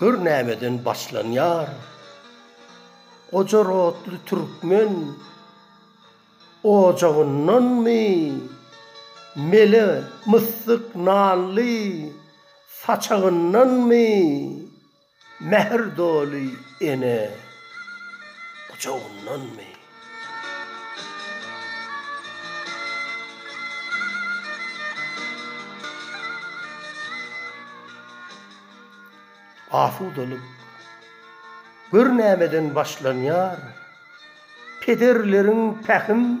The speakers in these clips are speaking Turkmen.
Gör nämeden başlanýar. Goja rotly türkmen ojagyndanmy, mele myssyk nanly saçagyndanmy, mähir doly ene gujagyndanmy? Asudalyk gör nämeden başlanýar, Pederleriň pähim.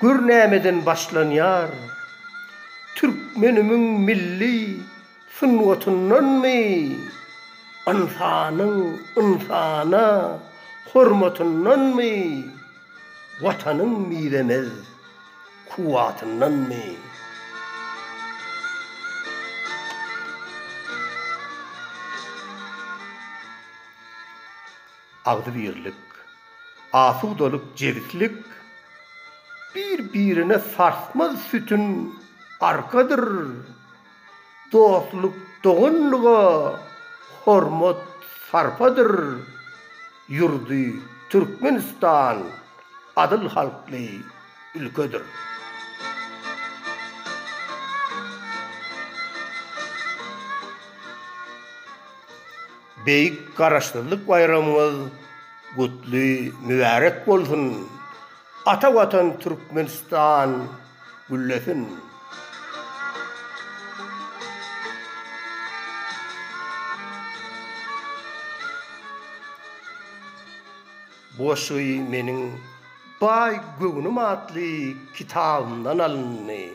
Gör nämeden başlanýar? Türkmenimiň milli sungatyndanmy? Ynsanyň ynsana hormatyndanmy? Watanyň mizemez kuwwatyndanmy? agzybirlik, asudalyk, jebislik, bir-birine sarsmaz sütün, arkadyr, dostluk, doganlyga hormat, sarpadyr, ýurdy Türkmenistan adyl halkly ülkedir. Beýik Garaşsyzlyk baýramyňyz gutly, mübärek bolsun! Ata Watan Türkmenistan güllesin! Goşgy meniň Baý göwnüm atly kitabymdan alyndy.